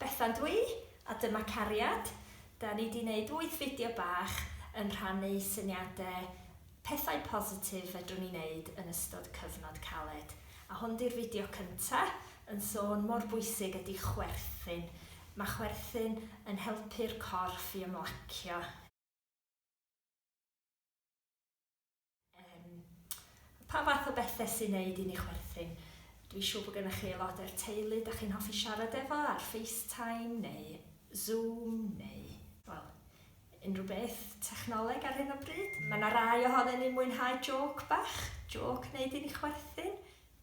Bethan dwi, a dyma Cariad. Da ni di neud wyth fideo bach yn rhannu syniade pethau positif fedrwn ni neud yn ystod cyfnod caled. A hwn di'r fideo cynta yn sôn mor bwysig ydi chwerthin. Ma chwerthin yn helpu'r corff i ymlacio. Yym, pa fath o bethe sy'n neud i ni chwerthin? Dwi'n siŵr bod gennych chi aelodau o'r teulu da chi'n hoffi siarad efo ar FaceTime neu Zoom neu, wel, unrhyw beth technoleg ar hyn o bryd. Mae yna rai ohonon ni'n mwynhau jôc bach, jôc neud i ni chwerthin.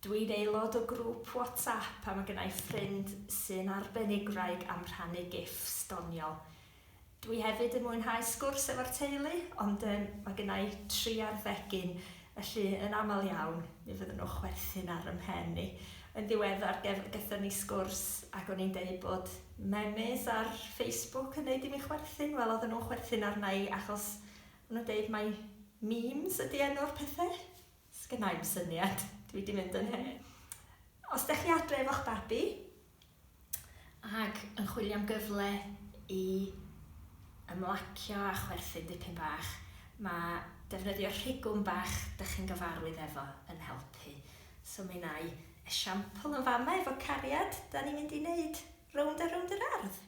Dwi'n aelod o grŵp WhatsApp a mae genna i ffrind sy'n arbenigwraig am rhannu gifs doniol. Dwi hefyd yn mwynhau sgwrs efo'r teulu, ond yym mae gynna i tri ar ddegyn, felly yn aml iawn mi fydden nhw'n chwerthin ar 'y mhen i. Yn ddiweddar gef- gethon ni sgwrs ac o'n i'n deud bod memes ar Facebook yn neud i mi chwerthin, wel oedden nhw'n chwerthin arna i achos o'n nhw'n deud mai memes ydi enw'r pethe. Sgynna i'm syniad, dwi 'di mynd yn hen. Os 'dach chi adre efo'ch babi, ac yn chwilio am gyfle i ymlacio a chwerthin dipyn bach, mae defnyddio rhigwm bach dych chi'n gyfarwydd efo yn helpu. So mi wna i esiampl yn fama efo cariad, dan ni'n mynd i wneud rownd a rownd yr ardd.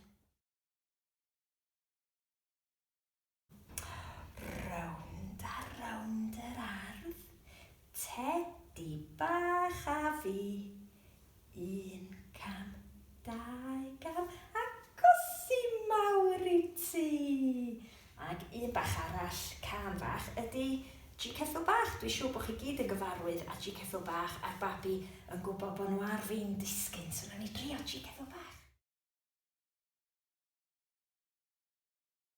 Rownd a rownd yr ardd, tedi bach a fi. Un cam, dau gam, a gosi mawr i ti. Ac un bach arall, cân fach, ydy Ji Ceffyl Bach. Dwi'n siŵr bod chi gyd yn gyfarwydd â Ji Ceffyl Bach a'r babi yn gwybod bod nhw ar fin disgyn. So wnawn ni drio Ji Ceffyl Bach.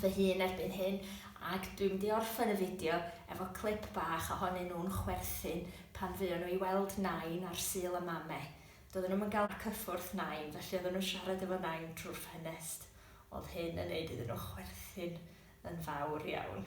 fy hun erbyn hyn ac dwi'n mynd i orffen y fideo efo clip bach ohonyn nhw'n chwerthin pan fuon nhw i weld Nain ar Sul y Mame. Doedden nhw'm yn gael cyffwrdd Nain felly oedden nhw'n siarad efo Nain trwy'r ffenest. Oedd hyn yn neud iddyn nhw chwerthin yn fawr iawn.